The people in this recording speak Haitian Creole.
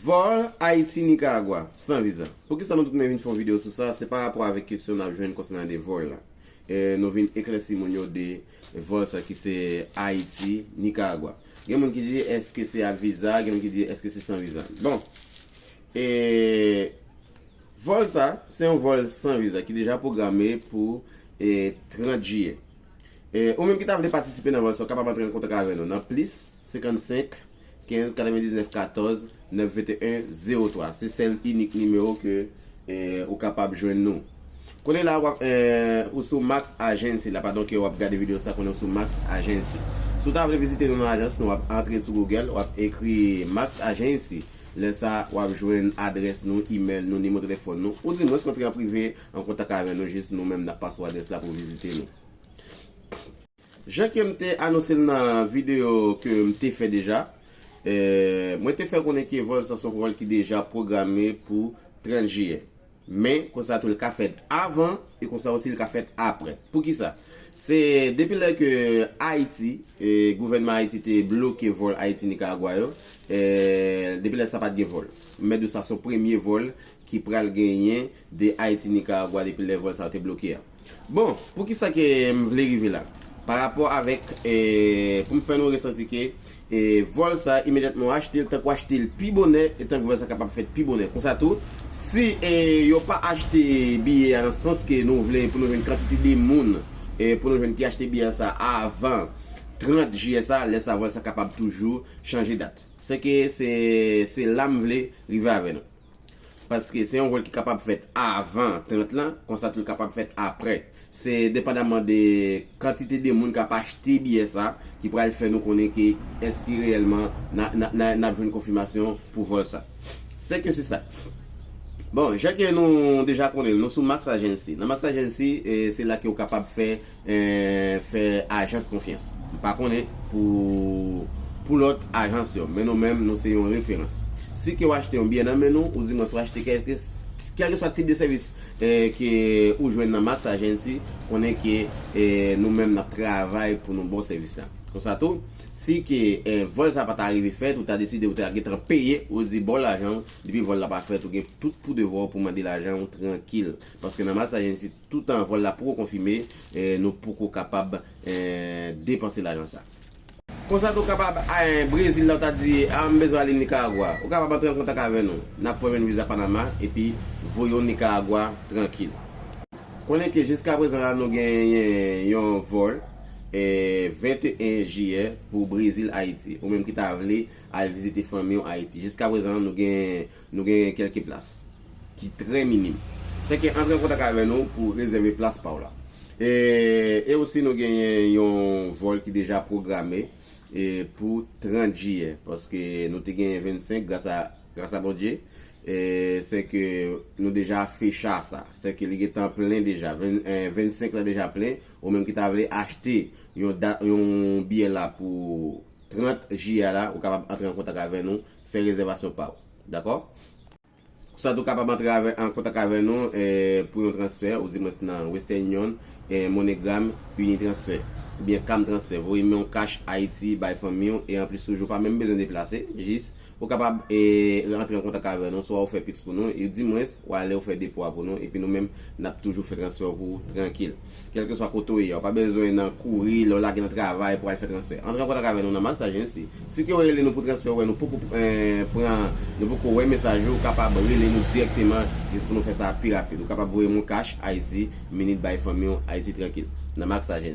Vòl Ayiti-Nikaragwa san viza. Poukisa nou tout men vin fè yon videyo sou sa, se pa rapò avèk kesyon n ap jwenn konsènan de vòl la. Nou vin eklèsi moun yo de vòl sa ki se Ayiti-Nikaragwa. Gen moun ki di eske se ak viza, gen moun ki di eske se san viza. Bon, e vòl sa, se yon vòl san viza ki deja pwograme pou 30 jiyè. Ou menm ki ta vle patisipe nan vòl sa, ou kapab antre an kontak avè nou nan plis. 55 15 99 14 9 21 03 se sèl inik nimewo ke ou kapab jwenn nou kounye la wap ou sou Max Agency la padon ke wap gade video sa kounye ou sou Max Agency si w ta vle vizite nou nan ajans nou wap antre sou Google wap ekri Max Agency lè sa wap jwenn adrès nou email nou nimo telefòn nou ou di mwen s antre an prive an kontak avè nou jis nou menm nap pase w adrès la pou w vizite nou. Jan ke m te anonse l nan videyo ke m te fè deja, mwen te fè konnen ke vòl sa s on vòl ki deja pwograme pou 30 jiyè. Men, konsa tou l ka fèt avan e konsa osi l ka fèt aprè. Poukisa? Se depi lè ke Ayiti, gouvènman Ayiti te bloke vòl Ayiti-Nikaragwa yo, depi lè sa pa t gen vòl. M mèt di w sa s on premye vòl ki pral genyen de Ayiti-Nikaragwa depi lè vòl sa yo te bloke a. Bon, pou ki sa ke m vle rive la? Pa rapò avèk, pou m fè nou resanti ke vòl sa imedyatman w achte l, tank w achte l pi bonè, e tank vòl sa kapab fèt pi bonè. Konsa tou, si yo pa achte biye a nan sans ke nou vle pou nou jwenn kantite de moun pou nou jwenn ki achte biye a sa avan 30 jiyè sa, lè sa vòl sa kapab toujou chanje dat. Sèke se la m vle rive avè nou. Paske se yon vòl ki kapab fèt avan 30 lan, konsa tou li kapab fèt aprè. Se depandaman de kantite de moun k ap achte biyè sa ki pral fè nou konnen ke èske reyèlman n ap jwenn konfimasyon pou vòl sa. Se ke se sa. Bon, jan ke nou deja konnen l, nou sou Max Agency. Nan Max Agency, se la ke ou kapab fè fè ajans konfyans. M pa konnen pou pou lòt ajans yo, men nou menm nou se yon referans. Si ke w achte yon biyè nan men nou, oudimwens w achte kèlke kèlkeswa tip de sèvis ke ou jwenn nan Max Agency, konnen ke nou menm n ap travay pou nou ba w sèvis la. Konsa tou, si ke vòl sa pa ta rive fèt, ou ta deside ou ta gen tan peye, ou di ba w lajan w, depi vòl la pa fèt ou gen tout pou devwa w pou mande lajan w trankil. Paske nan Max Agency. Toutan vòl la poko konfime, nou poko kapab depanse lajan sa. Konsa tou kapab anh Brezil la ou ta di ah m bezwen ale Nicaragua ou kapab antre an kontak avè nou nap fè w jwenn viza Panama epi voye w Nicaragua trankil. Konnen ke jiska prezan la nou genyen yon vòl 21 jiyè pou Brezil Ayiti ou menm ki ta vle al vizite fanmi w Ayiti jiska prezan nou genyen Nou gen kèlke plas ki trè minim. Sèke antre an kontak avè nou pou rezève plas pa w la. E osi nou genyen yon vòl ki deja pwograme pou 30 jiyè. Paske nou te genyen 25 gras a Bondye. Sèke nou deja fè cha sa. Sèke li gen tan plen deja. 25 la deja plen. Ou menm ki ta vle achte yon biyè la pou 30 jiyè la. Ou kapab antre an kontak avè nou. fè rezèvasyon pa w. Dakò? Konsa tou kapab antre an kontak avè nou pou yon transfè ou di mwens nan Western Union, MoneyGram, Unitransfer, oubyen Camtransfer. Voye men yon kach Ayiti bay fanmi w e anplis toujou pa menm bezwen deplase, jis ou kapab antre an kontak avè nou swa ou fè pix pou nou ou di mwens w ale ou fè depo a pou nou epi nou menm nap toujou fè transfè w pou ou trankil. Kèlkeswa kote w ye a, ou pa bezwen nan kouri lè w lage nan travay pou w al fè transfè. Antre an kontak avè nou nan Massage Agency. Si ke w rele nou pou transfè ou wè nou poko pran, nou poko wè mesaj ou, ou kapab rele nou dirèkteman jis pou nou fè sa pi rapid. Ou kapab voye Moncash Ayiti, Minit Bay Fanmi w Ayiti Trankil, nan Massage Agency.